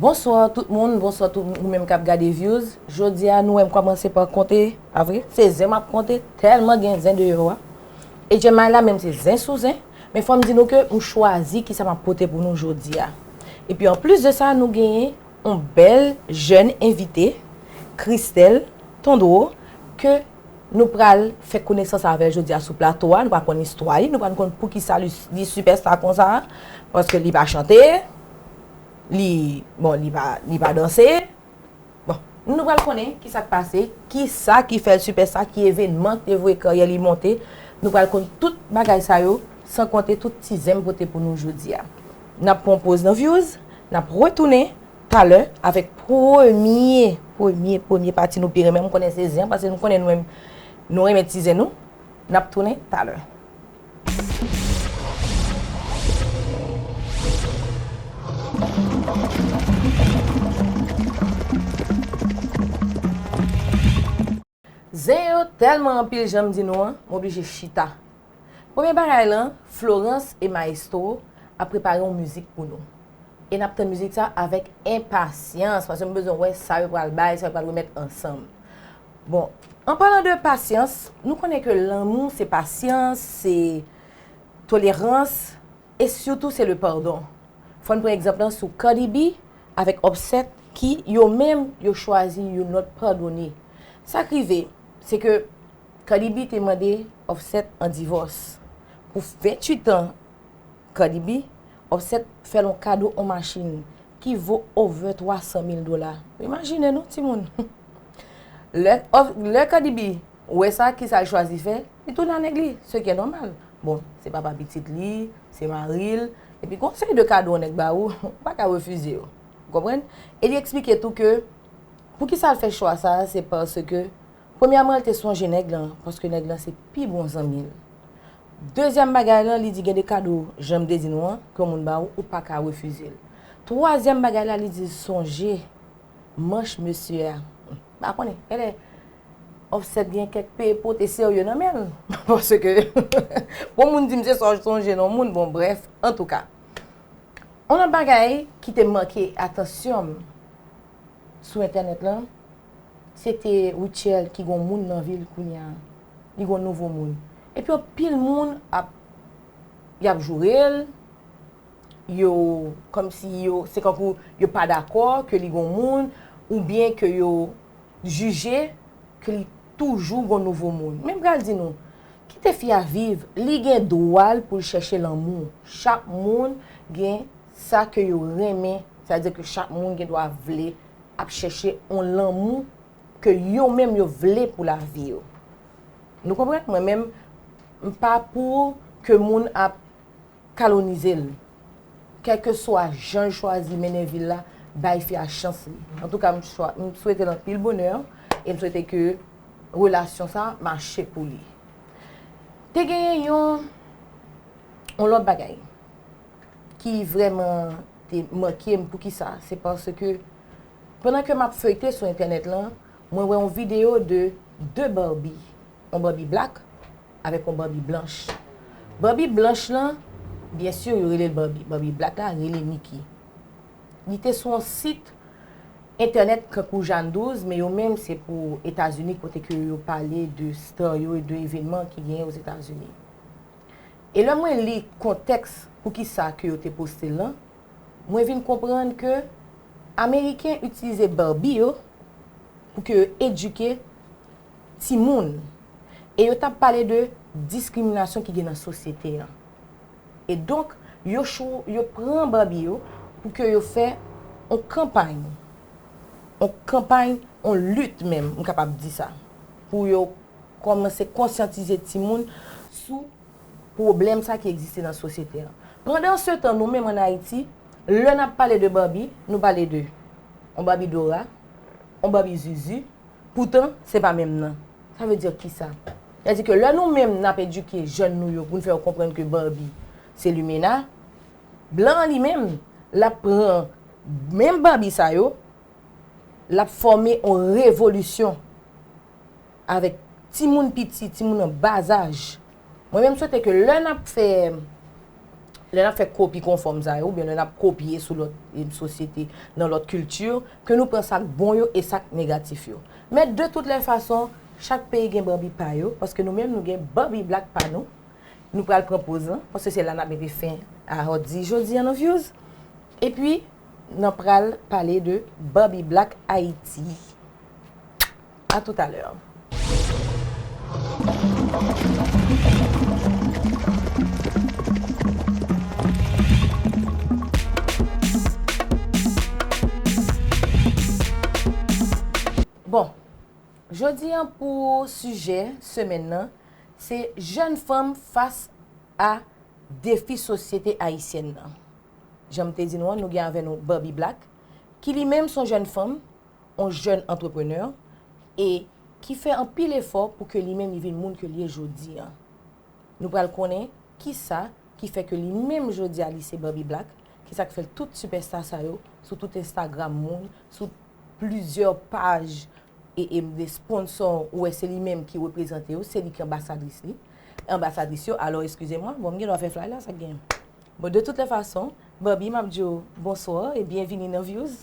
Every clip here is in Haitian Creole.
Bonswa tout moun, bonswa tout moun menm kap gade views Jodi a nou wèm kòman se pa konte pa vre Se zen map konte tèlman gen zen deyò a E Jemay la menm se zen sou zen Men fòm di nou ke m chwazi kisa map pote pou nou jodi a E pi anplis de sa nou genyen yon bèl jèn envite Christelle Tondreau Ke Nou pral fè konesans avèl jodia sou plato a, nou pral konn istwa li, nou pral konn poukisa li sipèsta konsa, paske li pa chante, li, bon li pa, li pa danse, bon, nou pral konnen kisa k pase, kisa ki fèl sipèsta, ki evenman ki te voye karyè li monte, nou pral konn tout bagay sa yo, san konte tout ti zen m pote pou nou jodia. Nap pran yon poz nan vyouz, nap retounen. Talè avèk premye premye premye pati nou pi renmen m konnen se zen an pase nou konnen nou menm nou renmen ti zen nou n ap tounen talè. Zen yo tèlman anpil janm di nou an, m oblije chita. Premye bagay lan, Florence et Maestro ap prepare yon mizik pou nou. E n ap tann mizik sa avèk enpasyans paske m bezwen wè sa yo pral bay, sa yo pral remèt ansanm. Bon, an palan de pasyans, nou konnen ke lanmou se pasyans, se tolerans. E sitou se le pardon. Fò n pran egzanp lan sou Cardi B avèk Offset ki, yo menm, yo chwazi youn lòt padone. Sa k rive, se ke Cardi B te mande Offset an divòs. Pou 28 an Cardi B, Offset fè l on kado on machin ki vo over 300 mil dola. Imajine non timoun! Lè Cardi B wè sa, kisa l chwazi fè? Li tounen a nèg li, se ki e nòmal. Bon, se papa pitit li, se mari l, epi gon seri de kado yon nèg ba ou, ou pa ka refize yo. Ou konprann? E li eksplike tou ke poukisa l fè chwa sa a se paske premyèman l te sonje nèg lan paske nèg lan se pi bon zanmi l. Dezyèm bagay lan li di gen de kado jan m te di nou an ke yon moun ba ou, ou pa ka refize l. Twazyèm bagay la li di l sonje manch mesye a. Pa konnen. Enben, Offset gen kèk pe pote serye nan men l. Paske, pou moun di m se sa w sonje nan moun, bon brèf, antouka. On lòt bagay ki te manke atansyon m sou entènèt lan, se te Rutshelle ki gen yon moun nan vi l kounya. Li gen yon nouvo moun. Epi anpil moun ap, y ap joure l, yo kòm si yo se kankou yo pa dakò ke li gon moun ou byen ke yo jije ke li toujou gon nouvo moun men m pral di nou kite fi a viv li gen dwa l pou l chèche lanmou chak moun gen sa ke yo renmen sa di ke chak moun gen dwa vle ap chèche yon lanmou ke yo menm yo vle pou lavi yo nou konprann mwen menm m pa pou ke moun ap. kalonize l. Kèlkeswa jan l chwazi mennen vi l la, bay fi a chans li. Antouka m swete l anpil bonè e m swete ke relasyon sa mache pou li. Te genyen yon lòt bagay ki vrèman te make m. Poukisa? Se paske pandan ke m ap feyte sou entènèt lan, mwen wè yon videyo de 2 Barbie yon Barbie black avèk yon Barbie blanch. Barbie blanch lan, byen sur yo rele l Barbie. Barbie black la rele Mickey. Li te sou yon sit entènèt kankou Jane 12, men yo menm se pou Etazini kote ke yo pale de star yo e de evenman ki genyen Ozetazini. E lè mwen li kontèks poukisa ke yo te poste l lan, mwen vin konprann ke Ameriken itilize Barbie yo pou ke yo edike timoun e yo t ap pale de diskriminasyon ki gen nan sosyete an. E donk, yo cho, yo pran Barbie yo pou ke yo fè on kanpay, on kanpay, on lit menm, m kapab di sa, pou yo kòmanse konsyantize timoun sou pwoblèm sa ki egziste nan sosyete an. Pandan se tan, nou menm an Ayiti, lè n ap pale de Barbie, nou pale de on Barbie Dora, on Barbie Zuzu, Poutan, se pa menm nan. Sa vle di ki sa? Sa di ke lè nou menm nap edike jèn nou yo pou n fè yo konprann ke Barbie se limena, blan an li menm lap pran menm Barbie sa yo, lap fòme yon revolisyon avèk timoun piti, timoun an bazaj. Mwen menm swete ke lè n ap fè, lè n ap fè kopi konfòm sa yo, oubyen lè n ap kopye sou lòt sosyete, nan lòt kilti, ke nou pran sa k bon yo e sa k negatif yo. Men de tout lè fason, chak peyi gen Barbie pa yo, paske nou menm nou gen Barbie Black pa nou, nou pral pran poz lan, paske se la n ap mete fen a Hòtdi jodi an nan Vyouz. E pi, nan pral pale de Barbie Black Ayiti. A tout a lè. Bon, jodi an pou sijè semèn nan, se jèn fanm fas a defi sosyete ayisyèn nan. Jan m te di nou an, nou gen avè nou Barbie Black, ki li menm s on jèn fanm, on jèn antreprenè e ki fè anpil efò pou ke li menm li vin moun ke li ye jodi an. Nou pral konnen kisa ki fè ke li menm jodi a li se Bobby Black, kisa k fè tout sipèsta sa yo sou tout Instagram moun, sou plizyè paj e e de sponsò ou wè se li menm ki reprezante yo, se li ki anbasadris li, anbasadris yo, alò eskize mwen, bon m gen dwa fè flay la, sa k genyen? Bon de tout lè fason, Bobby m ap di w bonswa e byenvini nan Vyouz.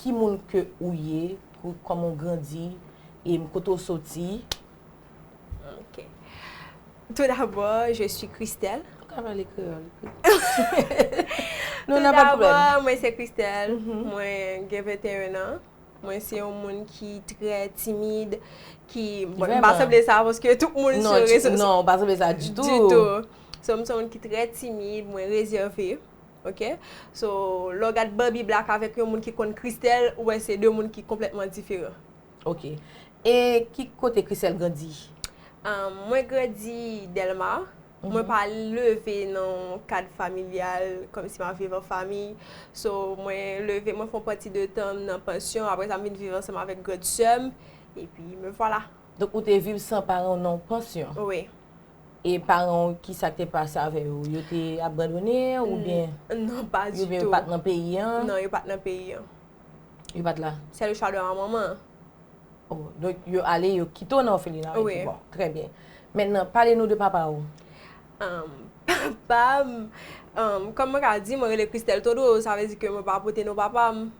ki moun ke ou ye, kòman ou grandi, e kote ou soti. Ok. Tout d'abord, je suis Christelle. Ou ka pale kreyòl. Tout d'abord, mwen se Christelle. Mwen gen 21 ans. Mwen se yon moun ki trè timid. Bon, m pa sanble sa, paske tout moun se rezo. Non, non, ou pa sanble sa ditou. Ditou. So, m se yon moun ki trè timid, mwen rezève. Ok so lè w gad Barbie black avèk yon moun ki konn Christelle ou wè se 2 moun ki konplètman diferan. Ok e ki kote Christelle grandi? Ahh mwen grandi Delma, mwen pa leve nan yon kad familyal kòm si map viv an fami so mwen leve mwen fè yon pati de tan m nan pansyon aprè sa m vin viv ansanm avèk grande sè m epi me vwala. Donk ou te viv san paran w nan yon pansyon? Wi. E paran w ki sa k te pase avè yo? Yo te abandone ou byen? Non pa di tou. Ou byen yo pa t nan peyi an? Non yo pa t nan peyi an. Yo pa t la? Se le chwa de ma manman. Oh donk yo ale yo kite w nan òfelina a epi bon. Trè byen. Mètnan pale nou de papa w. Papa m, kòm mwen ka di mwen rele Christelle Todreau sa vle di ke mwen pa pote non papa m.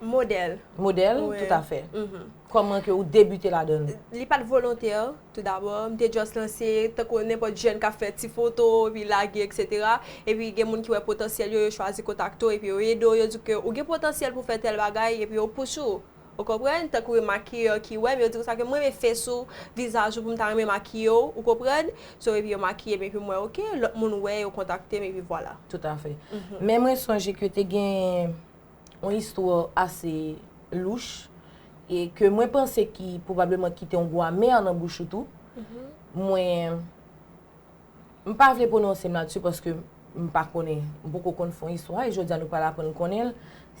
Modèl. Modèl, tout a fè. Kòman ke ou debite ladann? Li pat volontè, tout dabò. M te just lanse, tankou nenpòt jèn k ap fè ti foto, epi lage, eksetera. Epi gen moun ki wè potansyèl yo, yo chwazi kontakte w, epi yo ede w, yo di w ke ou gen potansyèl pou fè tèl bagay, epi yo pous ou. Ou konprann? Tankou yon makiyè ki wè m, yo di konsa ke m renmen fes ou, vizaj ou, pou m ta renmen makiye w, ou konprann? So, epi yo makiye m, epi m wè ok, lòt moun wè, yo kontakte m, epi vwala. Tout a fè. Men mwen sonje ke te gen. yon istwa ase louch, e ke mwen panse ki pwobableman kite yon gou amè nan bouch ou tou. Mwen, m pa vle pwononse m ladisu paske m pa konnen, m poko konn fon istwa, e jodi a nou pral aprann konnen l.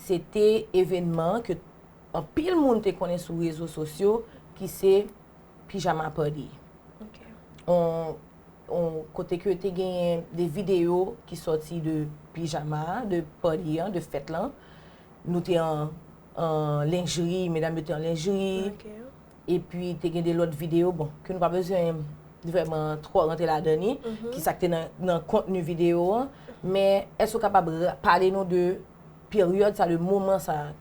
Se te evenman ke anpil moun te konnen sou rezo sosyo ki se Pijama Pati. Ok. kote ke te genyen de videyo ki sòti de pijama, de party an, de fèt lan. Nou te an lenjri, medam yo te an lenjri. E pi te gen de lòt videyo, bon, ke nou pa bezwen vreman twò rantre la dan ni, ki sa ki te nan kontni videyo an. Men, èske ou kapab pale nou de peryòd sa, de moman sa?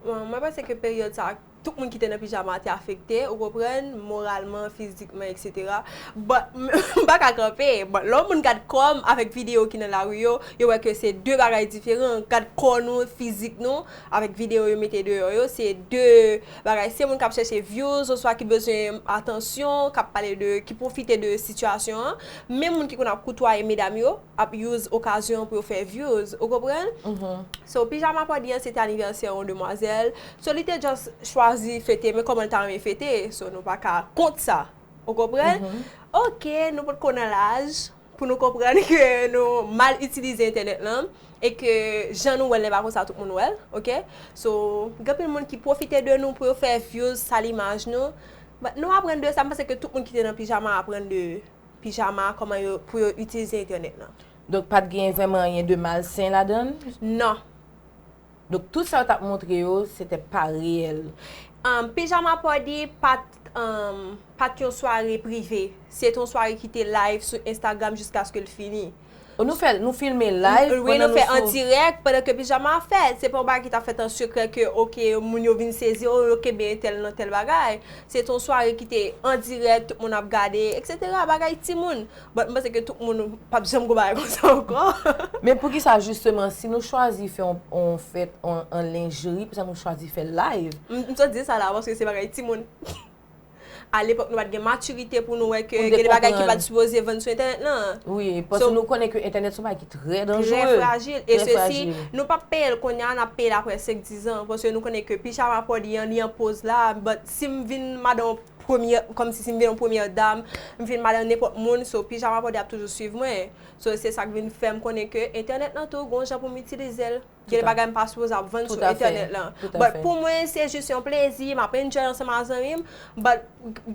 Mwen panse ke peryòd sa, Tout moun ki te nan pijama a te afekte, ou konprann, moralman, fizikman, etc. But, m pa ka kanpe. But, lè yon moun gad kò m avèk videyo ki nan lari yo, yo wè ke se 2 bagay diferan. Gad kò nou, fizik nou, avèk videyo yo mete deyò yo, se 2 bagay. Se moun k ap chèche vyouz, oswa ki bezwen atansyon, k ap pale de, ki pwofite de sitiyasyon an. Menm moun ki konn ap koutwaye medam yo. ap use okazyon pou yo fè views ou konprann so pijama pòdi an se te anivèsè yon demwazèl so li te just chwazi fete men kòman li ta renmen fete so nou pa ka kont sa ou konprann ok nou pot ko nan laj pou nou konprann ke nou mal itilize entènèt lan e ke jan nou wèl lè pa konsa tout moun wèl ok so gen anpil moun ki pwofite de nou pou yo fè views sal imaj nou but nou aprann de sa m panse ke tout moun ki te nan pijama aprann de. pijama, kòman yo, pou yo itilize entènèt lan. Donk pat gen vrèman anyen de malsen ladan l? Non. Donk tout sa yo tap montre yo, se te pa reyèl. Pijama Party pat, pat yon sware prive. Se te yon sware ki te live sou Instagram jiskaske l fini. O nou fè, nou filme live pandan nou sou. Wi nou fè an dirèk pandan ke pijama a fèt. Se pa yon bagay ki ta fèt an sekrè ke ok moun yo vin sezi o yo kenbe entèl nan tèl bagay. Se te yon sware ki te an dirèk, tout moun ap gade etc. Bagay timoun. But m panse ke tout moun pa p janm gwo bagay konsa ankò. Men poukisa jisteman si nou chwazi fè yon fèt an lingerie poukisa nou chwazi fè l live? M sot di sa la paske se bagay timoun. A lepòk nou pat gen matirite pou nou wè ke gen de bagay ki pat sipoze vann sou entènèt lan. Wi, paske nou konnen ke entènèt son bagay ki trè danjere. Trè frajil. E se si nou pap peyel kounye a, nap peyel apre 5, 10 an. Paske nou konnen ke pijama pòdi an, li an poz la, but si m vin madan yon premyè, kòm si si m vin yon premyè dam, m vin madan nenpòt moun, so pijama pòdi ap toujou swiv mwen. So se sak vin fèm konnen ke entènèt lan tou gon jan pou m itilize l. Gen bagay m pa sipoze ap vann sou entènèt lan. But pou mwen se jis yon plezi, m ap enjoy ansanm ak zanmi m. But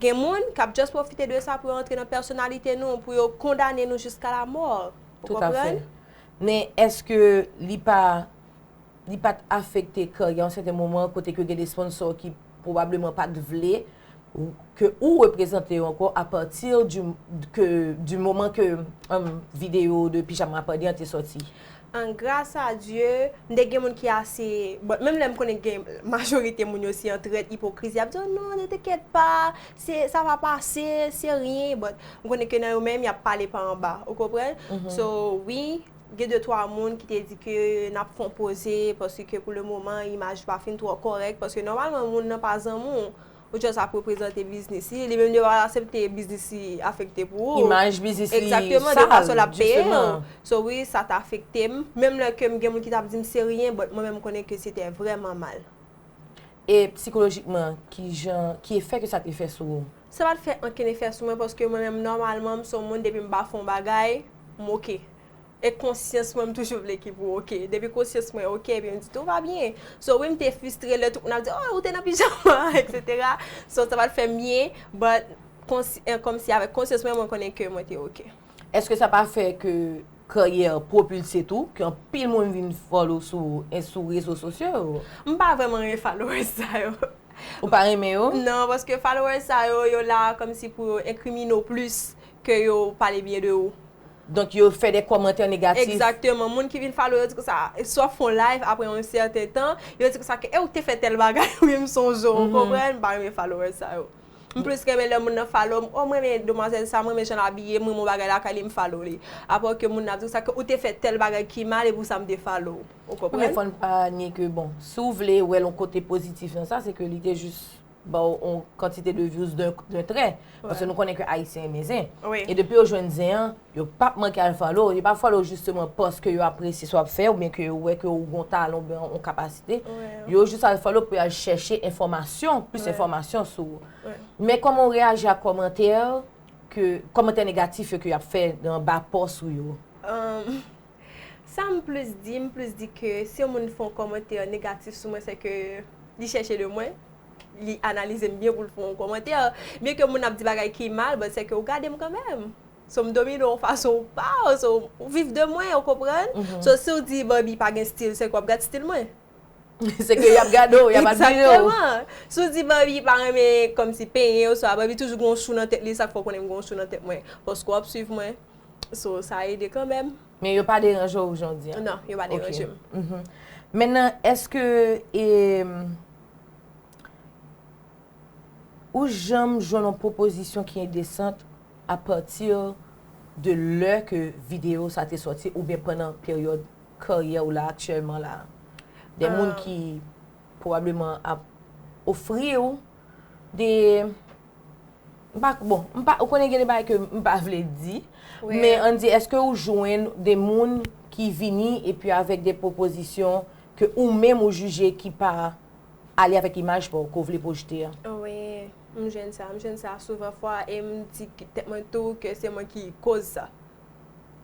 gen moun k ap just pwofite de sa pou yo antre nan pèsonalite nou, pou yo kondane nou jiska lamò. Ou konprann? Men èske li pa li pa t afekte karyè yon sèten moman kote ke gen de sponsor ki Pwobableman pa t vle ke ou reprezante yo ankò a pati di ke di moman ke video de pijama pandi an te sòti. An gras a Dye, m te gen moun ki ase, bon menm lè m konnen gen majorite moun yo se yon trèt ipokriz y ap di w non ne te kèt pa, se sa va pase, se ryen, but m konnen ke nan yo menm y ap pale pa anba, ou konprann? So wi, Gen de twa moun ki te di ke n ap konpoze paske ke pou le moman imaj pa fin twò kòrèk paske nòmalman moun nan pa zanmi w ou jòs ap reprezante biznis li, li menm li pa asepte biznis li afekte pou ou. Imaj biznis li sal jisteman. Egzakteman, de fason l ap peye w. So wi sa te afekte m, menm lè ke m gen moun ki t ap di m se ryen but mwen menm m konnen ke sete vrèman mal. E psikolojikman kijan, ki efè ke sa te fè sou ou? Sa pat fè ankenn efè sou mwen paske mwen menm nòmalman m son moun depi m pa fè yon bagay m ok e konsyans mwen m toujou vle ki pou ok depi konsyans mwen ok epi m di tou va byen so wi m te fustre lè tout moun ap di oh ou te nan pijama etc so sa pat fèm byen but kòmsi avèk konsyans mwen mwen konnen ke mwen te ok. Eske sa pa fè ke karyè propulse tou ke anpil moun vin follow sou rezo sosyo yo? M pa vrèman ren followers sa yo. Ou pa renmen yo? Non, paske followers sa yo, yo la kòmsi pou yo enkrimine w plis ke yo pale byen de ou. Donk yo fè de kòmantè negatif. Egzakteman. Moun ki vin follow yo di konsa, swa fon live apre yon sèten tan, yo di konsa ke e ou te fè tèl bagay wi m sonje w, ou konprann? M pa renmen followers sa yo. M plis renmen lè moun nan follow m, o m renmen demwazèl sa, m renmen jan l abiye, m renmen yon bagay lakay li, m follow li. Apre ke moun nan ap di konsa ke ou te fè tèl bagay ki mal e pou sa m te follow w. Ou konprann? Men fòn pa nye ke bon, si w vle wè l yon kote pozitif nan sa, se ke li te jis ba w yon kantite de vyouz den trè. Paske nou konnen ke Ayisyen renmen zen. E depi yo jwenn zen an, yo p ap manke al follow w. Yo pa follow w jisteman paske yo apresye sa w ap fè oubyen ke yo wè ke ou gen yon talan oubyen yon kapasite. Yo jis al follow w pou y al chèche enfòmasyon, plis enfòmasyon sou ou. Men kòman w reyaji ak kòmantè ke, kòmantè negatif yo ke y ap fè anba pòs ou yo? Sa m plis di, m plis di ke si yon moun fè yon kòmantè negatif sou mwen, sèke li chèche de mwen, li analize m byen pou l fè yon kòmantè. Byen ke moun ap di bagay ki mal, but sèke ou gade m kanmèm. So m domine w yon fason ou pa, so ou viv de mwen, ou konprann? So si w di Barbie pa gen stil, sèke w ap gad stil mwen. Sèke y ap gade w, y ap admire w. Egzakteman! Si w di Barbie pa renmen kòmsi penyen oswa Barbie toujou gen yon chou nan tèt li, sa k fè w konnen m gen yon chou nan tèt mwen? Paske w ap swiv mwen, So sa ede kanmèm. Men yo pa deranje w jondi an? Non, yo pa deranje m. Men nan eske ou janm jwenn yon pwopozisyon ki endesant a pati de lè ke videyo sa te soti ou byen pandan peryòd karyè w la aktyèlman la? De moun ki pwobableman ap ofri w de Mpa k bon, mpa, ou konnen gen de bagay ke mpa vle di, men an di eske ou jwenn de moun ki vini epi avèk de pwopozisyon ke ou menm ou jije ki pa ale avèk imaj paw ke w vle pwojte a? Wi, m jwenn sa, m jwenn sa souvan fwa e m di tèt mwen tou ke se mwen ki koz sa.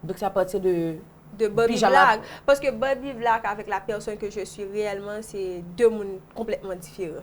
Donk se apati de pijama? De Barbie Black, paske Barbie Black avèk la pèsòn ke je suis reyèlman se de moun konplètman diferan.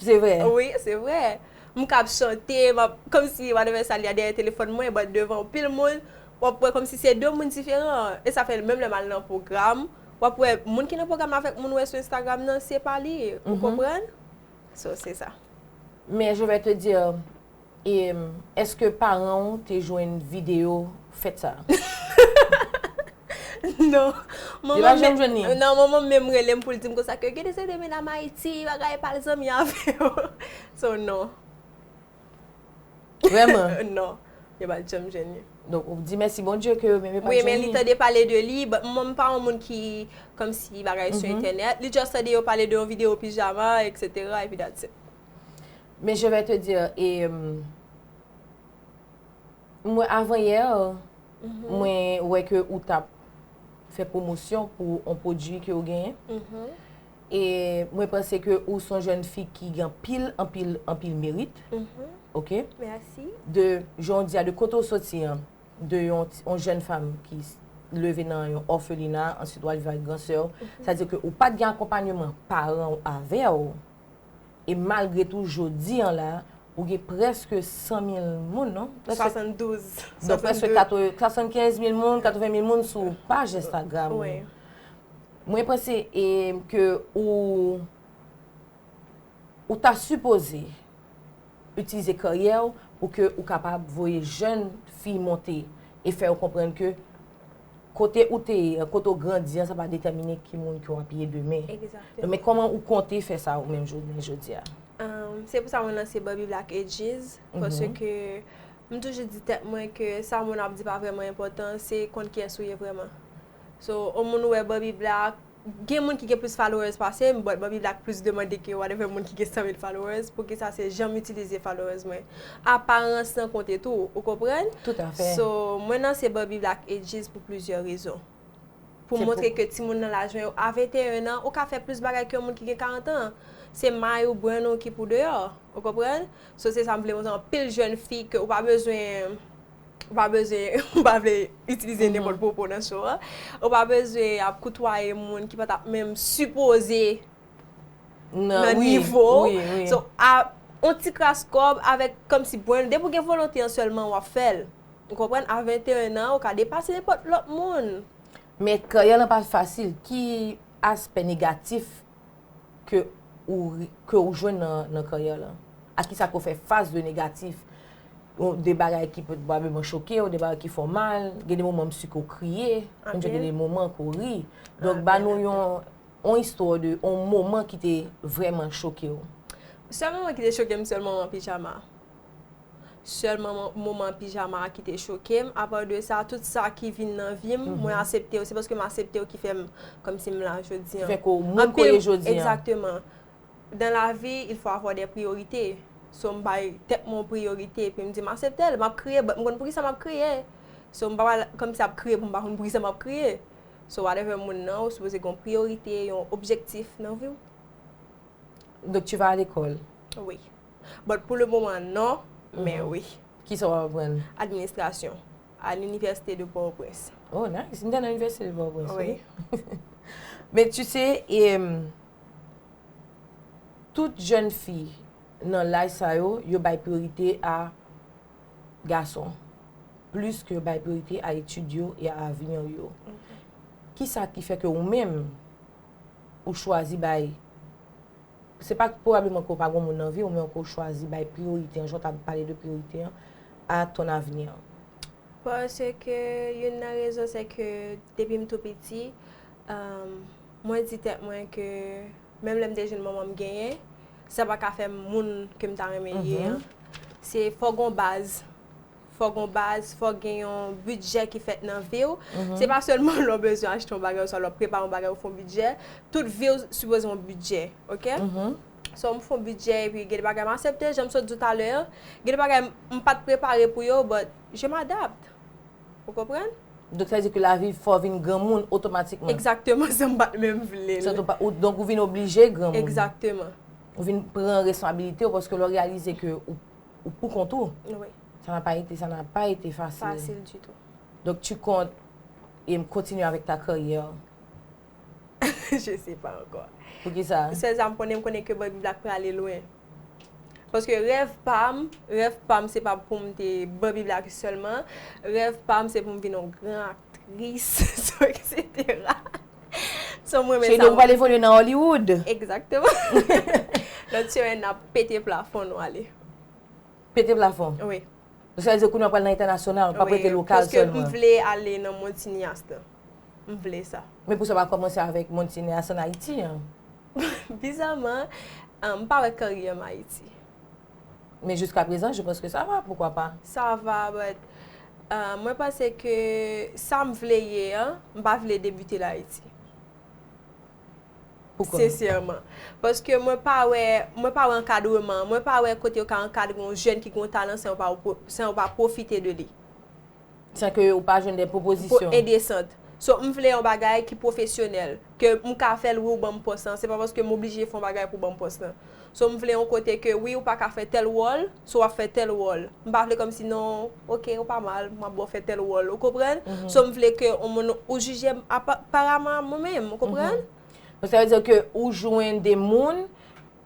Se vre. Wi, se vre. M k ap chante, m ap, kòmsi Madame Saly a dèyè telefòn mwen, but devan anpil moun, w ap wè kòmsi se de moun diferan. E sa fè menm lè m al nan pwogram, w ap wè moun ki nan pwogram nan avèk moun ou wè sou Instagram nan, se pa li. Ou konprann? So, se sa. Men je vais te dire, E eske paran ou te jwenn video fèt sa a? Non. Yo pa janm jwenn li? Non, manman m menm rele m pou l di m konsa ke Gede se te medam Ayiti, bagay pa al zanmi avè yo. So non. Vrèman? Non. Yo pa t janm jwenn li. Donk ou di mèsi Bondye ke yo menm yo pa t jwenn li. Wi, men li tande pale de li. Manman m pa yon moun ki kòmsi bagay sou entènèt. Li just tande yo pale de yon video pijama, etc. Epi that's it. Men je vais te dire e mwen avan yè mwen wè ke ou tap fè pwomosyon pou on pwodui ke ou genyen e mwen panse ke ou son jèn fi ki gen anpil anpil anpil merit ok de jan ou di a de kote ou soti an de yon jèn fanm ki leve nan yon òfelina answit wal viv ak gran sè ou sa di ke ou pat gen akonpanyeman paran ou avè ou E malgre tou jodi an la, ou gen prèske 100 mil moun non? 72. Donk prèske 75 mil moun, 80 mil moun sou paj Instagram ou. Wi. Mwen panse e ke ou ou ta sipoze itilize karyè ou pou ke ou kapab voye jèn fi monte e fè yo konprann ke Kote ou te ye an, kote ou grandi an sa pa detèmine ki moun ke w ap ye demen. Egzakteman. Men kòman ou konte fè sa ou menm jounen jodi a? Se pou sa mwen lanse Ban Bib la ak Edjyz, paske m toujou di tèt mwen ke sa moun ap di pa vrèman enpòtan, se konn kiyès ou ye vrèman. So, yon moun wè Ban Bib la, Gen moun ki gen plis followers pasem but mwen viv la ak plis demande ke whatever moun ki gen 100 mil followers poukisa se janm itilize followers mwen aparans lan konte tou ou konprann so mwen lanse bò viv la ak edjis pou plizyè rezon pou montre ke timoun nan laj mwen yo a 21 an ou ka fè plis bagay ke yon moun ki gen 40 an se may ou brenn ou ki pou deyò ou konprann so se sa m vle montre anpil jèn fi ke ou pa bezwen Ou pa bezwen, m pa vle itilize nenpòt gwo mo nan show an, ou pa bezwen ap koutwaye moun ki pa ta menm sipoze nan nivo w. Wi, wi, wi. So, a yon ti kras kòb avèk kòm si bwenn, depi w gen volonte an sèlman w ap fè l. Ou konprann? A 21 an, ou ka depase nenpòt lòt moun. Men karyè lan pa fasil. Ki aspè negatif? ke ou ke ou jwenn nan nan karyè lan? A kisa ke ou fè fas de negatif? De bagay ki pwobableman choke ou, de bagay ki fè w mal, gen de moman msi ke ou kriye, msi ke gen de moman ke ou ri. Donk ba nou yon yon istwa de yon moman ki te vrèman choke ou. Sèl moman ki te choke m sèl moman pijama. Sèlman moman pijama a ki te choke m, apa de sa tout sa ki vin nan vi m, mwen asepte yo, se paske m asepte yo ki fè m kòmsi m la jodi an. Ki fè ke w moun ke w ye jodi an. Egzakteman. Dan lavi, il fò avwa dè priyorite. So m bay tèt mwen yon priyorite epi m di m asepte l, m ap kriye but m konn poukisa m ap kriye. So m pa pral kòmsi ap kriye pou m pa konn poukisa m ap kriye. So whatever moun nan, ou sipoze gen yon priyorite, yon objektif nan vi w. Donk tu vas à l'école? Wi. But pou le moman non, men wi. Kisa w ap aprann? Administration, a l'université de Port-au-Prince. Oh nice, m t al nan Université de Port-au-Prince wi. Men tu sais, tout jèn fi nan laj sa yo, yo bay priyorite a gason, plis ke yo bay priyorite a etid yo e a avenir yo. Kisa ki fè ke ou menm, ou chwazi bay Se pa pwobableman ke w pa gen yon moun nan vi w, men ke w chwazi bay priyorite an, jan w ta pale de priyorite an, a ton avni an. Paske youn nan rezon se ke depi m tou piti, mwen di tèt mwen ke menm lè m te jwenn manman m genyen, sa pa ka fè m moun ke m ta renmen ye an. Se fò gen yon baz. fòk yon baz, fòk gen yon bidjè ki fèt nan vi w. Se pa sèlman lè w bezwen achte yon bagay oswa lè w ap prepare yon bagay ou fè yon bidjè. Tout vi w sipoze yon bidjè, ok? So, m fè yon bidjè epi gen de bagay m asepte, jan m sot di w talè a. Gen de bagay m pa t prepare pou yo, but je m'adapte. Ou konprann? Donk sa vle di ke lavi fè w vin granmoun otomatikman? Egzakteman, san m pa t menm vle l. Donk ou vin oblije granmoun. Egzakteman. Ou vin pran responsabilite w paske lè w reyalize ke ou. ou pou kont ou. Wi. Sa na pa ete, sa na pa ete fasil. Fasil di tou. Donk tu kont em kontinye avèk ta karyè ou? Je se pa ankò. Pou ki sa? Sèl sa m konnen, m konnen ke bòy bib la k prale lwen. Paske rèv pa m, rèv pa m se pa pou m te bòy bib la sèlman. Rèv pa m se pou m vin yon gran aktris, sou eksetera. Cheydo ou pral evolye nan Hollywood. Exactement. Lòt semèn n ap pete plafon nou ale. Pete plafon? Wi. Sa vle di kounye an pral nan entènasyonal, pa prete lokal sèlman. Paske m vle ale nan mond sineas la. M vle sa. Men pou sa pa kòmanse avèk mond sineas an Ayiti an? Bizaman, m pa wè karyè m Ayiti. Mais jusqu'à présent je pense que ça va pourquoi pas. Sa va but mwen panse ke sa m vle ye an m pa vle debute l Ayiti. Poukò? Sensyèman. Paske mwen pa wè mwen pa wè ankadreman, mwen pa wè kote yo ka ankadre yon jèn ki gen yon talan san yo pa pwofite de li. San ke ou pa jwenn de pwopozisyon. Pou indecent. So m vle yon bagay ki pwofesyonèl. Ke m ka fè l wi ou ban m pòs lan. Se pa paske m oblije fè yon bagay pou w ban m pòs lan. So m vle yon kote ke wi ou pa ka fè tèl wòl, so w ap fè tèl wòl. M pa vle kòmsi non, ok ou pa mal, m ap ba w fè tèl wòl. Ou konprann? So m vle ke yon moun ou jije m aparaman a mwen menm. Ou konprann? Sa vle di ke ou jwenn de moun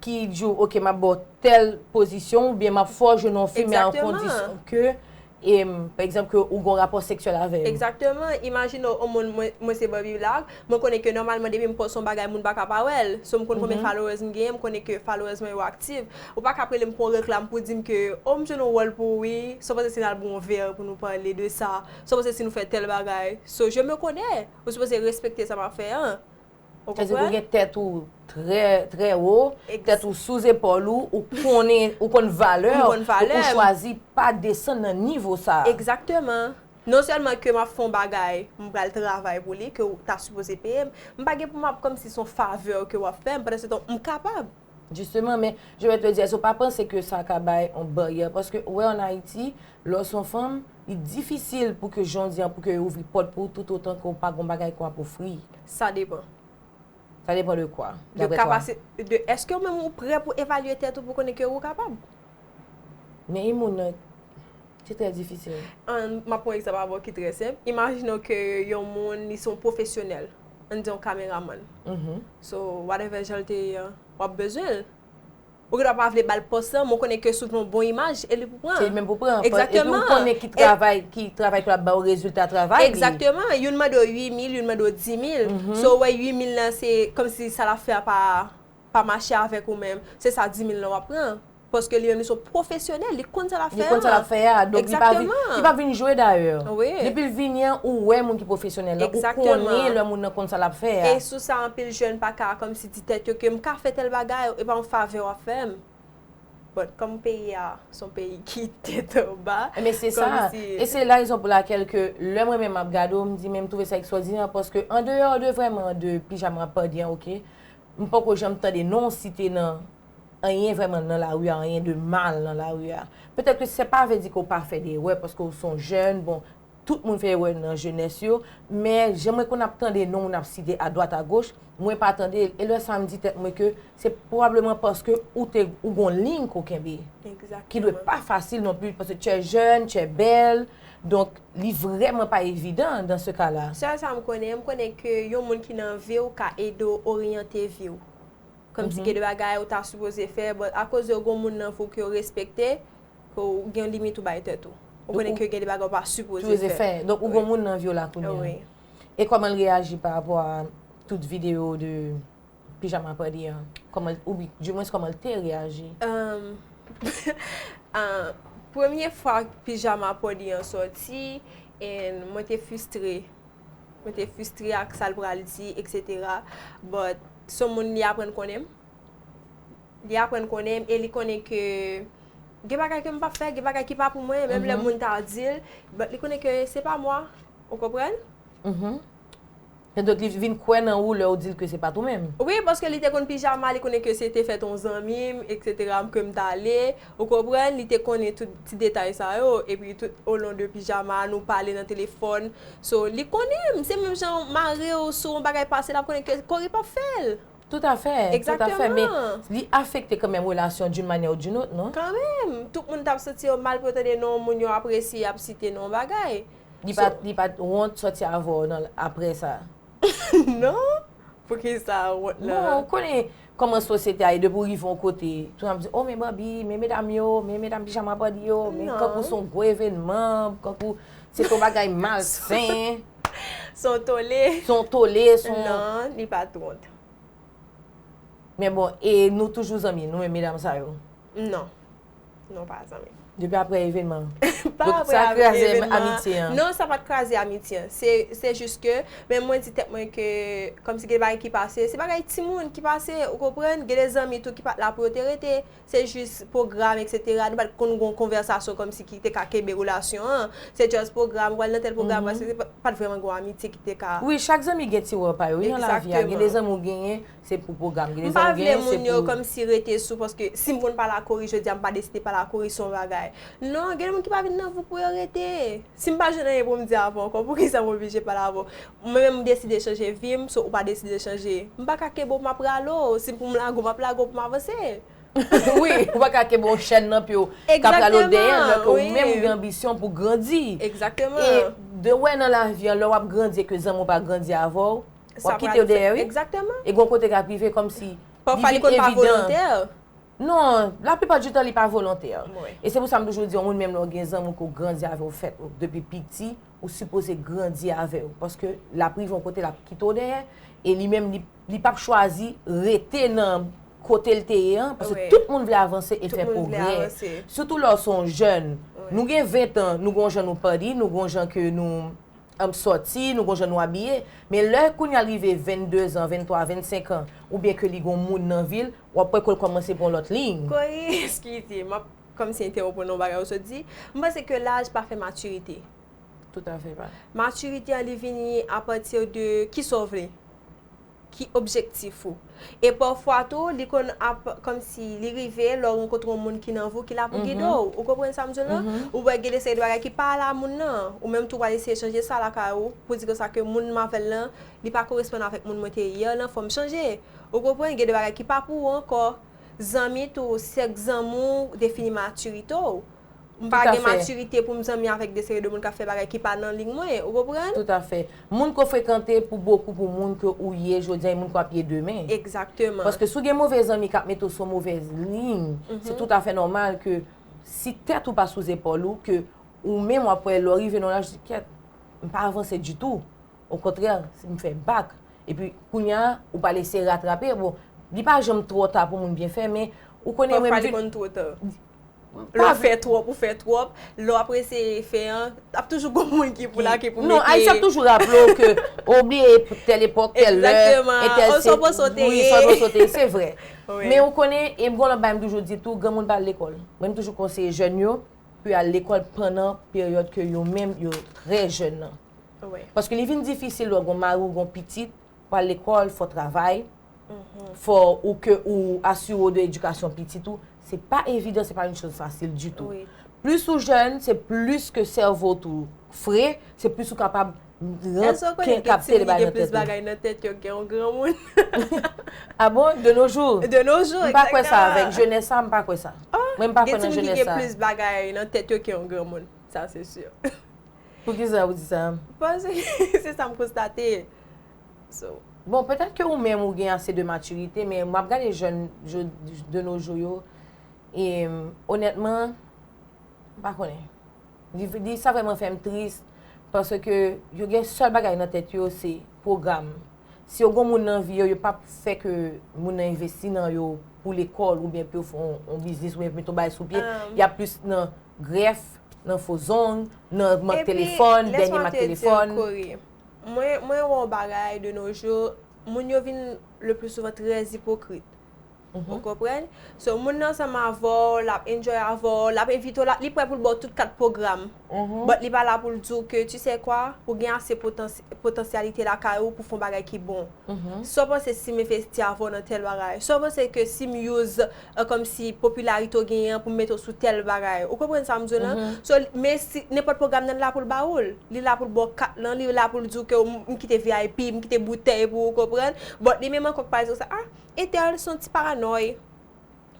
ki di w ok map baw tèl pozisyon ou byen map fè w jwe nan yon fim a kondisyon ke pa egzanp ke ou gen yon rapò seksyèl avèm. Egzakteman, imajine w moun mwen se Barbie Black, mwen konnen ke nòmalman depi m pòs yon bagay moun pa ka pa wè l, so m konnen konbyen followers m genyen, m konnen ke followers mwen yo aktiv, ou pa ka ap rele m pou yon reklam pou di m ke oh m jwe nan yon wòl pou ou wi, sa vle di si n al bwè yon vè pou nou pale de sa, sa vle di si nou fè tèl bagay, so je me connais, ou sipoze respekte sa map fè an. Ou konprann? Sezi pou gen tèt ou trè, trè wo, tèt ou sou zepòl ou, ou konnen, ou konn valè ou, ou chwazi pa desann nan nivo sa a. Egzakteman. Non sèlman ke m ap fè yon bagay, m pral travay pou li, ke ou ta sipoze peye m, m pa gen pou m ap kòmsi se yon favè ke w ap fè m, pandan se tan m kapab. Justement, men je vais te dire, èske w pa panse ke sa ka bay yon baryè? Paske ou wè an Ayiti, lè w se yon fanm, li difisil pou ke jan w di an, pou ke yo ouvri pòt pou ou tout otan ke w pa gen yon bagay ke w ap ofri. Sa depan. Sa depan de kwa, daprè twa? De èske ou menm ou prè pou evalye tèt ou pou konnen ke ou kapab. Men yon moun nan. Ki trè difisil. An, m ap pran yon egzanp avè w ki trè senp. Imajine w ke yon moun li se yon pwofesyonèl, an n di yon kameramann. So, whatever jan l te ye an, w ap bezwen l. Ou gen dwa pa vle ba l pòs lan, men w konnen ke si w gen yon bon imaj, e li pou pran. Se li menm pou pran. Epi ou konnen ki travay ki travay ki ap ba w rezilta travay li. Egzakteman. Youn mande w 8 mil, youn mande w 10 mil. So ou wè 8 mil lan se kòmsi sa l ap fè a pa. pa mache avèk ou menm, se sa 10000 lan wap pran, paske li menm li son pwofesyonèl, li konn sa lap fè an. Li konn sa lap fè a, donk li pa vin, li pap vin jwe dayè. Wi. Depil vini an, ou wè moun ki pwofesyonèl lan, ou konnen lè moun nan konn sa lap fè a. E sou sa anpil jèn pa ka kòmsi di tèt yo ke m ka fè tèl bagay, e pa yon favè wap fèm. Bon, kòm peyi a son peyi ki tèt anba, kòmsi. Enben se sa, e se la rezon pou lakèl ke lè mwen menm map gade w, m di men m twouve sa ekstwòdinè paske andeyò de vrèman de pijama pa gen ok, M poko janm tande non w site nan anyen vrèman nan lari a, anyen de mal nan lari a. Petèt ke se pa vle di ke w pa fè de erè, paske w se yon jèn, bon, tout moun fè erè nan jenès yo, men jan mwen konn ap tande non w nan ap site adwat agoch, mwen pa tande l, e lè sa m di tèt mwen ke se pwobableman paske ou te, ou gen yon liy ke w kenbe, ki dwe pa fasil non plis, paske tu es jeune, tu es belle, Donk, li vrèman pa evidan dan se ka la. Sèl sa m konnen, m konnen ke yon moun ki nan vi w ka ede w oryante vi w. Kòm si gen de bagay ou ta sipoze fè, but akoz yo gen yon moun nan vi w ke w respekte, ke w gen yon limit ou bay tèt ou. Ou konnen ke gen de bagay ou pa sipoze fè. Donk ou gen yon moun nan vi w la kounye a. E kòman l reyaji parapò a tout videyo de. Pijama Apadi an, kòman l, ou bi, di mwens kòman l te reyaji? Premye fwa Pijama Apadi an sòti, en mwen te fistre. Mwen te fistre ak sa l pral di, eksetera. Bòt, son moun li aprann konnen m. Li aprann konnen m e li konnen ke gen bagay ke m pa fè, gen bagay ki pa pou mwen, menm lè moun ta di l, bòt li konnen ke se pa mwa. Ou konprann? Sa dwe di li vin kwè nan ou lè ou di l ke se pat ou menm. Wi, paske li te konn pijama, li konnen ke se te fèt yon zanmi m, eksetera, m ke m t ale, ou konprann, li te konnen tout ti detay sa yo, epi tout o lon de pijama a, nou pale nan telefòn, so, li konnen m, se menm jan ou mare w sou yon bagay pase l ap konnen ke Corey p ap fè l. Tout a fè, tout a fè, men li afekte kan menm relasyon d'une manière ou d'une autre, non? Kan menm, tout moun t ap santi yo mal pou yo tande non moun yo apresye ap site non bagay. Li pa li pa t wont sòti avè w nan aprè sa? Non, poukisa wont la? Bon, ou konnen kòman sosyete a ye depi w rive yon kote, tout moun ap di, o men Bòbi, men medam yo, men medam pijama Bòbi yo, men kankou s on gwo evènman, kankou se t on bagay malsen. S on tole. S on tole, s on. Non, li pa t wont. Men bon, e nou toujou zanmi, nou menm medam sa yo? Non. Non pa zanmi. Depi apre evenman an. Pa apre evenman an. Non sa pat kraze amitye an. Se jis ke men mwen di tèt mwen ke kom si gen bagay ki pase. Se bagay ti moun ki pase. Ou konprann? Gen de zanmi tou ki pat la pou yo te rete. Se jis pwogram etc. Nou pat konn gon konvèsasyon kom si ki te ka kenbe relasyon an. Se just pwogram. Ou al nan tel pwogram. Pat vreman gon amitye ki te ka. Wi chak zanmi gen ti wòl pa yo. Wi nan lavi a. Gen de zanmi ou genyen. Se pou pwogram ki deja ou gen, se pou. M pa vle moun yo kòmsi rete sou paske si m konn pale ak Corey jodi a, m pa deside pale ak Corey sou yon bagay. Non, gen de moun ki pa vin nan vi w pou yo rete. Si m pa jwenn anyen pou m di avè w ankò, poukisa m oblije pale avè w? Mwen menm m deside chanje vi m, so ou pa deside chanje. M pa ka kenbe w m ap rale w. Si pou m lage w, m ap lage w pou m avanse. Wi, ou pa ka kenbe yon chèn nan pye w k ap rale w dèyè lò ke ou menm ou gen anbisyon pou w grandi. E de wè nan lavi an, lè w ap grandi e ke zanmi w pa grandi avè w, Wap kite yo dèyè wi. E gon kote kap rive komsi li vin evidan. Non, la plipa di tan li pa volontè. E se pou sa m toujou di yon moun menm lè w gen zanmi w ke w grandi avè w fèt ou depi piti, ou sipoze grandi avè l. Paske l ap rive yon kote l ap kite w dèyè e li menm li pap chwazi rete nan kote l te ye an. Paske tout moun vle avanse e fè pwogrè. Sitou lè w se yon jèn. Nou gen ventan, nou gen yon jan nou padi, nou gen yon jan ke nou. Anb sòti, nou gon jan nou abiye. Men lè kounya l rive 22 zan, 23, 25 an, oubyen ke li gon moun nan vi l, w ap wè ke l kòmanse pran yon lòt liy. Kori, eskize, m ap kòmnse entèwonp w nan yon bagay ou sot di. M panse ke laj pa fè matirite. Toutafè pa. Matirite an li vini apati de, kisa w vle? ki objektif ou. E pafwa tou li konn ap kòmsi li rive lè w rankontre yon moun ki nan vou ki la pou gide w. Ou konprann sa m di w lan? Ou wè gen de seri de bagay ki pa ale a moun nan. Ou menm tou pral eseye chanje sa lakay ou pou di konsa ke moun m avè l lan li pa koresponn avèk moun mwen te ye yè lan fò m chanje. Ou konprann? Gen de bagay ki pa pou ou ankò. Zanmi tou, sèk zanmi w defini matirite w. M pa gen matirite pou m zanmi avèk de seri de moun k ap fè bagay ki pa nan lig mwen, ou konprann? Toutafè. Moun ke w frekante pou bokou pou moun ke ou ye jodiya e moun ke w ap ye demen. Egzakteman. Paske si w gen move zanmi k ap mete w sou yon movèz liy, se toutafè nòmal ke si tèt ou pa sou zepòl ou, ke ou menm w ap wè lè w rive nan yon laj, ou di kèt, m pa avanse ditou. Okontrè, m fè bak. Epi, kounya, ou pral eseye ratrape. Bon, li pa janm twò ta pou moun byen fè, men, ou konnen menm. Pafwa li konn twò ta. Lè w fè twòp, ou fè twòp. Lè w ap eseye fè an, ap toujou gon moun ki pou la, ki pou mete. Non, Ayisyen ap toujou raple w ke ou bliye tèl epòk, tèl lè, e tèl se. Ou sonpon sa w te ye. Ou sonpon sa w te ye, se vre. Men ou konnen, e m gen yon lòt bagay m toujou di tou, granmoun pa al lekòl. Mwen m toujou konseye jèn yo pou yo al lekòl pandan peryòd ke yo menm yo trè jèn nan. Paske li vin difisil lè w gen yon mari, ou gen yon pitit, Pou al lekòl, fò w travay, fò ou ke ou asire w de edikasyon pitit ou. Se pa evidan, se pa yon choz fasil ditou. Plis ou jèn, se plis ke sèvo w tou fre, se plis ou kapab ranpke kapte li bay nan tèt ou. Èske w konnen gen timoun ki gen plis bagay nan tèt yo ke yon granmoun? A bon? De no jou? De no jou, egzakteman. M pa kwè sa avèk jenès sa, m pa kwè sa. Mwen m pa kwè nan jenès sa. Gen timoun ki gen plis bagay nan tèt yo ke yon granmoun. Sa se si. Poukisa ou di sa? Paske se sa m konstate. So. Bon, petèt ke ou menm ou gen ase de matirite, men m ap gade jèn de no jou yo, e onètman, m pa konnen. Li sa vrèman fè m tris, paske yo gen sèl bagay nan tèt yo se pwogram. Si yo gen yon moun nan vi yo, yo pa p fè ke moun nan envesti nan yo pou lekòl, oubyen pou yo fè yon biznis, oubyen pou yo mete yon bagay sou pye, y ap plis nan grèf, Nan fo zong, nan mak telefòn, dènye mak telefòn. Epi, lèsman te di yo, Kori, mwen wè yon bagay de no jou, moun yo vin le pli souvan trè ipokrit. Ou konprann? So, moun nan ansanm avè w, l ap enjoy avè w, l ap envite w, li prè pou l ba w tout kat pwogram, but li pa la pou l di w ke, tu sais quoi, ou gen ase potansyalite lakay ou pou w fè yon bagay ki bon. Sa w panse si m envesti avè w nan tèl bagay? Sa w panse ke si m use e kòmsi popularite w genyen an pou m mete w sou tèl bagay ou konprann sa m di w lan so men si nenpòt pwogram nan la pou l ba w l li la pou l ba w kat lan li la pou l di w ke w m kite vip m kite boutèy pou ou konprann but li menm ankò k pa di w sa a entèl s on ti paranòy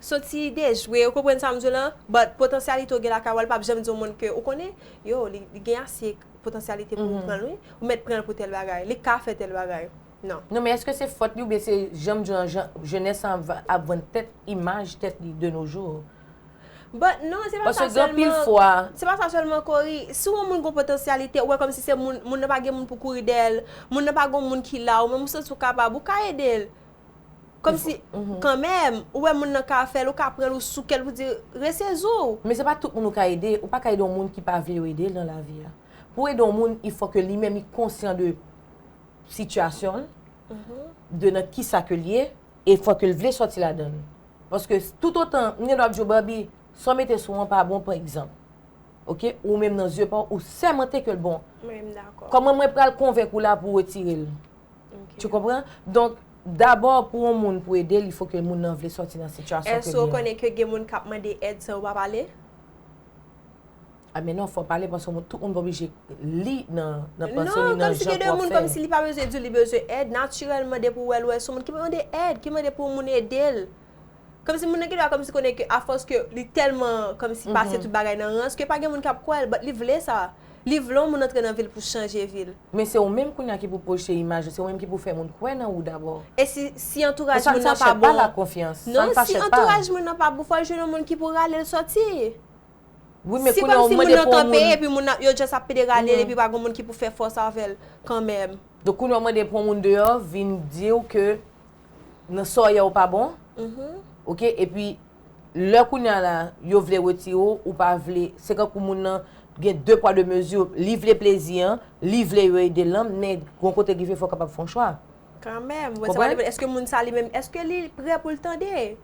s on ti dejwe ou konprann sa m di w lan but potansyalite w gen lakay ou a l p ap janm di yon moun ke ou konnen yo li gen ase potansyalite pou ou pran l wi ou mèt pran l pou tèl bagay li ka fè tèl bagay. nan. Non men eske se fòt li oubyen se janm diw lan jan jenès lan ap vann tèt imaj tèt li de nos jours. But non se pa sa selman se pa sa selman Cory si w wè yon moun gon potansyalite ou wè komsi se moun moun nan pa gen moun pou kouri dèyè l moun nan pa gon moun ki la ou menm ou santi w kapab ou ka ede l komsi kanmèm ou wè moun nan ka fè l ou ka pran l ou souke l pou di resezi w. Men se pa tout moun ou ka ede ou pa ka ede yon moun ki pa vle yo ede l nan lavi a pou w ede yon moun il fò ke li menm li konsyan de sitiyasyon l, de nan ki sa ke l ye, e fò ke l vle sòti ladan l. Paske tout otan, m gen dwa ap di w Barbie, sa w mete sou an pa bon pa egzanp. Ok, ou menm nan zye pa w, ou sèmante ke l bon. Mwen m dakò. Kòman mwen pral konvenk ou la pou w retire l? Ok. Tu konpran? Donk, dabò pou yon moun pou ede l, il fò ke moun nan vle sòti nan sitiyasyon ke l ye. Èske w konnen ke gen moun k ap mande èd san yo pa pale? A men non fò pale paske tout moun pa oblije li nan panse li nan jan pou ap fè. Kòmsi li pa bezwen diw li bezwen èd natirèlman depi ou wèl wè son moun ki mande èd ki mande pou moun edel kòmsi moun nan gen dwa kòmsi konnen ke afòs ke li tèlman kòmsi pase tout bagay nan rans ke pa gen moun kap kwèl but li vle sa li vle yon moun antre nan vil pou chanje vil. Men se ou menm kounya ki pou pwojte imaj ou se ou menm ki pou fè moun kwè nan ou dabò. E si si antouraj moun nan pa bon? Non si antouraj moun nan pa bon fòl jwenn yon moun ki pou ralel sòti. Se kòmsi moun nan kanpe epi moun nan yo just ap pederale l epi pa gen moun ki pou fè fòs avè l kanmèm. Donk kounye a w mande pou yon moun deyò vin di w ke nan sa w ye ou pa bon, ok, epi lè kounye a la yo vle retire w, ou pa vle, se kankou moun nan gen de pwa de mezi, li vle plezi an, li vle yo ede l lan, men gon kote ki vle fè w kapab fè yon chwa. Kanmèm, wè sa m ap di, èske moun sa li menm, èske li prè pou l tande?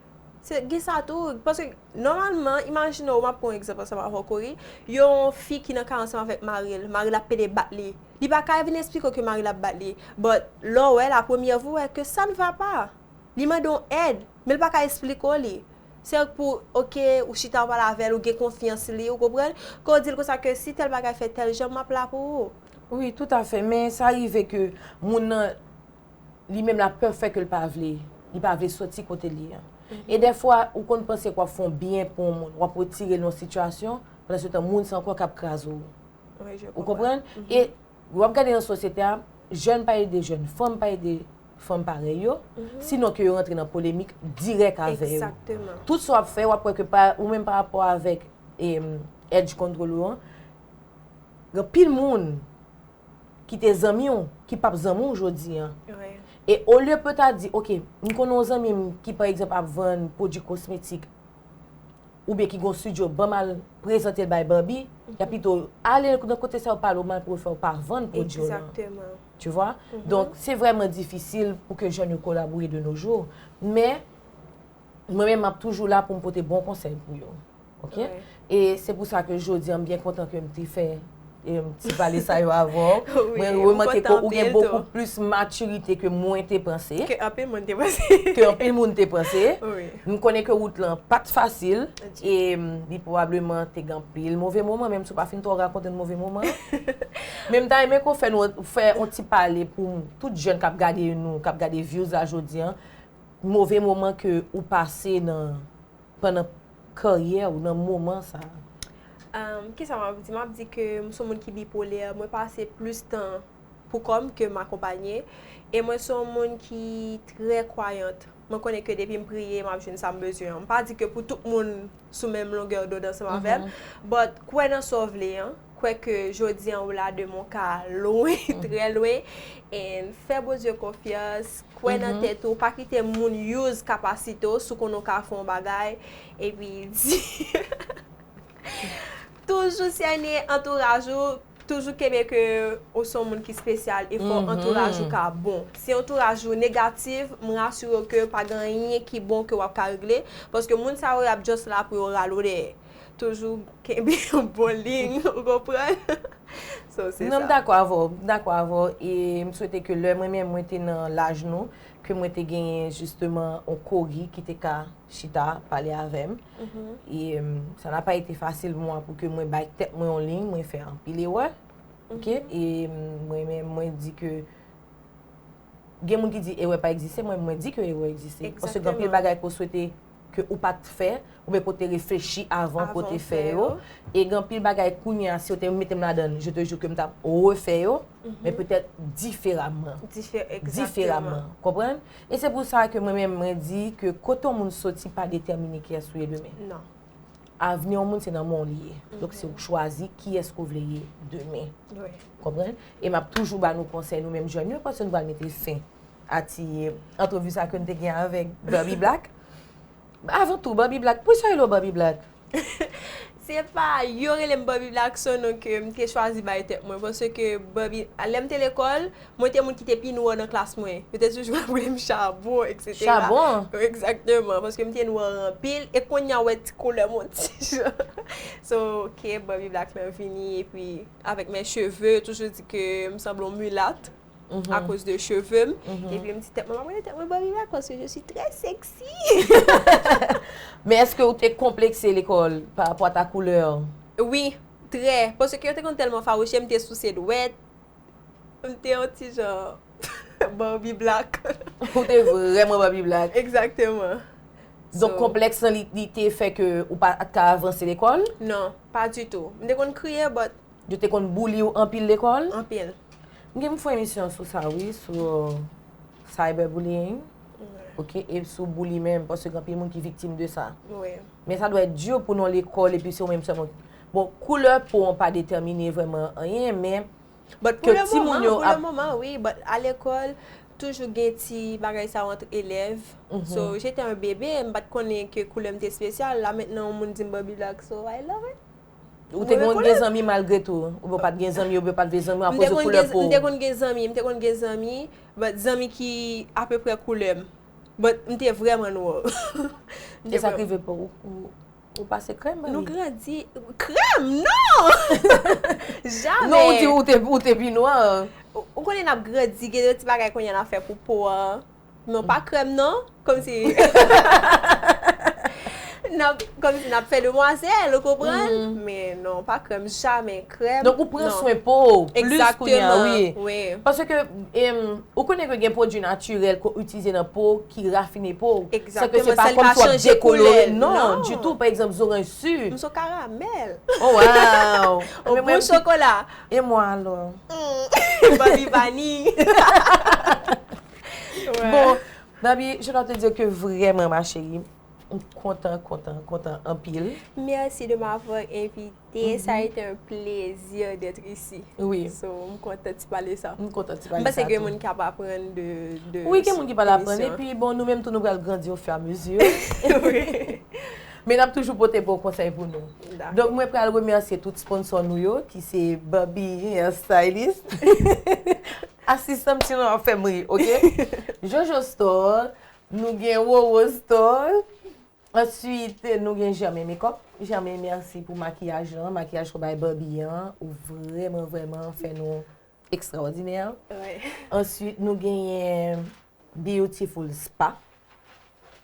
Se gen sa tou, paske nòmalman, imajine w m ap pran yon egzanp ansanm avè w ori, yon fi ki nan kay ansanm avèk mari l, mari l ap pede bat li, li pa ka vin esplike w ke mari l ap bat li, but lè w wè l a premyè vou, ou wè ke sa n va pa, li mande w èd, men l pa ka esplike w li, se k pou ok, ou chita w pale avè l, ou gen konfyans li, ou konprann, ke w di l konsa ke si tèl bagay fèt tèl jan, m ap la pou ou. Wi, toutafè, men sa rive ke moun nan. li menm la pè fè ke l pa vle, li pa vle soti kote l ye an. E dèfwa, ou konn panse ke w ap fè yon byen pou yon moun, w ap retire l nan yon sitiyasyon, pandansetan moun sa ankò k ap kraze w. Ou konprann? E w ap gade nan sosyete a, jèn pa ede jèn, fanm pa ede fanm parèy yo, sinon ke yo rantre nan polemik dirèk avè yo. Tout sa w ap fè, w ap wè ke pa, ou menm pa rapò avèk edge control ou an, gen anpil moun, ki te zanmi w, ki pap zanmi w jodi an. E olye pou yo ta di, ok, m konnen yon zanmi m ki pa egzanp ap vann pwodui kosmetik, oubyen ki gen yon studio, ban m al prezante l bay Barbie, y ap pito ale nan kote sa yo pale w mal pou yo fè w pa vann pwodui w lan. Tu vwa? Donk, se vrèman difisil pou ke jèn yo kolabore de no jou. Men. Mwen menm map toujou la poum pote bon konsèy pou yo ok e se pou sa ke jodi an m byen kontan ke m te fè ti pale sa yo avè w mwen remake ke ou gen bokou plis matirite ke mwen te panse ke anpil moun te panse ke anpil moun te panse m konnen ke wout lan pat fasil e li pwobableman te gen anpil move moman menm si w pa fin twò rakonte n move moman men m ta renmen ke w fè yon ti pale pou tout jèn kap gade nou kap gade vyouz la jodi an move moman ke ou pase nan pandan karyè ou nan moman sa a? Ahm kisa map di map di ke m son moun ki bipolè mwen pase plis tan pou kò m ke m akonpanye e mwen son moun ki trè kwayant mwen konnen ke depi m priye map jwenn sam bezwen an m pa di ke pou tout moun sou menm longè dond ansanm avèm but kwè nan sa w vle an Kwè ke jodi an ou la demen w ka lwen, trè lwen. And fè Bondye konfyans, kwè nan tèt ou, pa kite moun use kapasite w, si w konnen w ka fè yon bagay, epi di Toujou sène antouraj ou, toujou kenbe ke ou se yon moun ki spesyal e fò antouraj ou ka bon. Si antouraj ou negatif, m rasire w ke pa gen anyen ki bon ke w ap ka regle, paske moun sa yo y ap just la pou yo rale w dèyè. Toujou kenbe yon bon liy ou konprann. So se sa. Non m dakò avè w, m dakò avè w e m swete ke lè mwen menm mwen te nan laj nou ke mwen te genyen jisteman yon kori ki te ka chita pale avè m. E sa n'a pas été facile pou mwen pou ke mwen bay tèt mwen yon liy, mwen fè anpil erè. Ok e mwen menm mwen di ke gen moun ki di erè pa egziste, mwen mwen di ke erè egziste. Paske gen anpil bagay ke w swete ke ou pa t fè, oubyen ke w te reflechi avan pou w te fè yo. E gen anpil bagay kounye a, si yo te mete m ladan l, je te jure ke m ta p refè yo, men petèt diferaman. Diferaman. Konprann? E se pou sa ke mwen menm mwen di ke kote yon moun soti pa detèmine kiyès ou ye demen. Non. Avni yon moun se nan men w li ye. Donk se ou k chwazi kiyès ke w vle ye demen. Ou konprann? E m ap toujou ba nou konsèy nou menm jèn yo paske nou pral mete fen a ti antrevi sa ke nou te gen avèk Baby Black. Avan tou, Baby Black, poukisa yo rele w Baby Black? Se pa yo rele m Baby Black, s on non ke m te chwazi bay tèt mwen paske Baby, lè m te lekòl. Mwen te moun ki te pi nwa nan klas mwen. Yo te toujou ap rele m chabon, eksetera. Chabon? Egzakteman. Paske m te nwa anpil. E kounye a, ou wè ti koulè m on ti jan. So, ok, Bobby Black lan vini, epi avèk mè cheve, yo toujou di ke m sanble yon milat, akoz de cheve m. Epi m di tèt mwen, m ap rele tèt mwen Bobby Black paske je si trè seksi. Men èske ou te konplekse lekòl parapò a ta koulè? Wi, trè. Paske yo te konn tèlman fawouche m, m te souse dwèt. M te yon ti jan Barbie black. Ou te vrèman Barbie black. Egzakteman. Donk konplèks lan li te fè ke ou pa t ka avanse lekòl? Non, pa ditou. M te konn kriye but. Yo te konn bouli w anpil lekòl? Anpil. M gen pou m fè yon emisyon sou sa wi, sou cyber bullying, ok, e sou bouli menm paske gen anpil moun ki viktim de sa. Wi. Men sa dwe di pou nou lekòl epi se ou menm sèlman. Bon, koulè po an pa detèmine vrèman anyen, men But pou le moman, pou le moman wi, but a lekòl toujou gen ti bagay sa yo ant elèv, so j'étais un bébé, m pat konnen ke koulè m te spesyal, la mentnan yon moun di m Barbie black, so I love it. Ou te konn gen zanmi malgre tou? Oubyen w pat gen zanmi oubyen w pat vle zanmi akoz de koulè po w? M te konn gen zanmi, m te konn gen zanmi, but zanmi ki apeprè koulè m, but m te vrèman noir. E sa k rive pou ou? Ou pase krèm mami? Nou grandi, krèm non! Jamè! Non ou di ou te, ou te pi nwa. Ou konnen nap grandi gen yon ti bagay kounye a nap fè pou po an. Non pa krèm non, kòm si nap, kòm si nap fè demwazèl ou konprann? Men non pa krèm, jamè! Krèm non. Donk ou pran swen po ou plis kounye a wi. Pase ke ou konnen ke gen pwodui natirèl ke w itilize nan po ki rafine po ou. San ke se pa kòmsi w ap dekolore l non. Ditou pa egzanp zoranj su. M son karamèl. O waw. Ou bon chokola. E mwa alò. M ban li vaniy. Bon Babi je dwa te dire ke vrèman ma cheri m kontan kontan kontan anpil. Mèsi de m'avoir envi. Teye sa ete yon plezi det isi. Wi. So m kontan ti pale sa. M kontan ti pale sa. M panse gen moun ki ap aprann de emisyon. Wi gen moun ki pral aprann e pi bon nou menm tou nou pral grandi o fur a mezi. Wi. Men nap toujou pote bon konsèy pou nou. Dakò. Donk mwen pral remèsye tout sponsò nou yo ki se Baby Hair Stylist. Asistan m ti Ron ap fè m ri ok. Jojo Store, nou gen Roro Store, Answit nou gen Germain Makeup, Germain merci pou makiyaj lan, makiyaj ke w bay Barbie an, ou vrèman vrèman fè nou ekstraòdinè. Answit nou genyen Beautiful Spa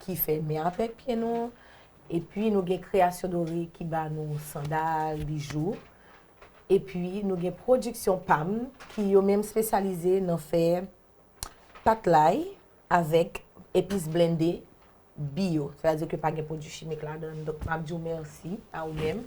ki fè men avèk pye nou, epi nou gen Création Dorée ki ba nou sandal, bijou, epi nou gen Production Pam ki yo menm spesyalize nan fè Pat lay avèk epis blende bio. Sa vle di ke pa gen pwodui chimik ladann. Donk map di w mèsi a ou menm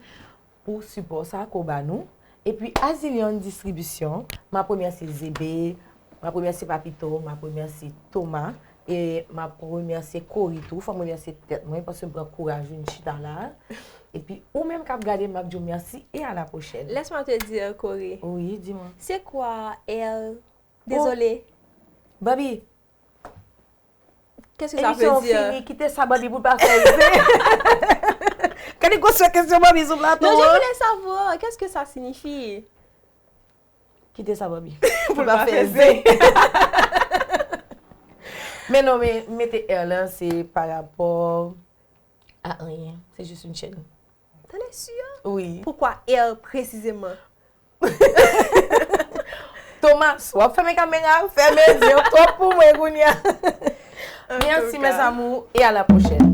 pou sipò sa ke w ba nou. E pi Azilian Distribution, map remèsye Zebe, map remèsye Papito, map remèsye Toma, e map remèsye Kori tou. Fò m remèsye tèt mwen paske m pran kouraj vin chita la. E pi ou menm kap gade m, map di w mèsi e a la pwochèn. Laisse-moi te dire Kori. Wi, di mwen. Se kwa el Oh Dezole. Baby. Qu'est-ce que ça veut dire? Emisyon an fini, kite sa Baby pou l pa fè rive. Gade gwosè kesyon Baby sou plato an. Non, je voulais savoir, qu'est-ce que ça signifie? Kite sa Baby. Pou l pa fè rive. Men non, men mete er lan se pa rapò a anyen. Se jis yon chèn. Tande su yo? Wi. Poukwa Air presizeman? Thomas, wap fèmen kamera, fèmen zye w twòp pou mwen kounye a. Merci mes amours et à la prochaine.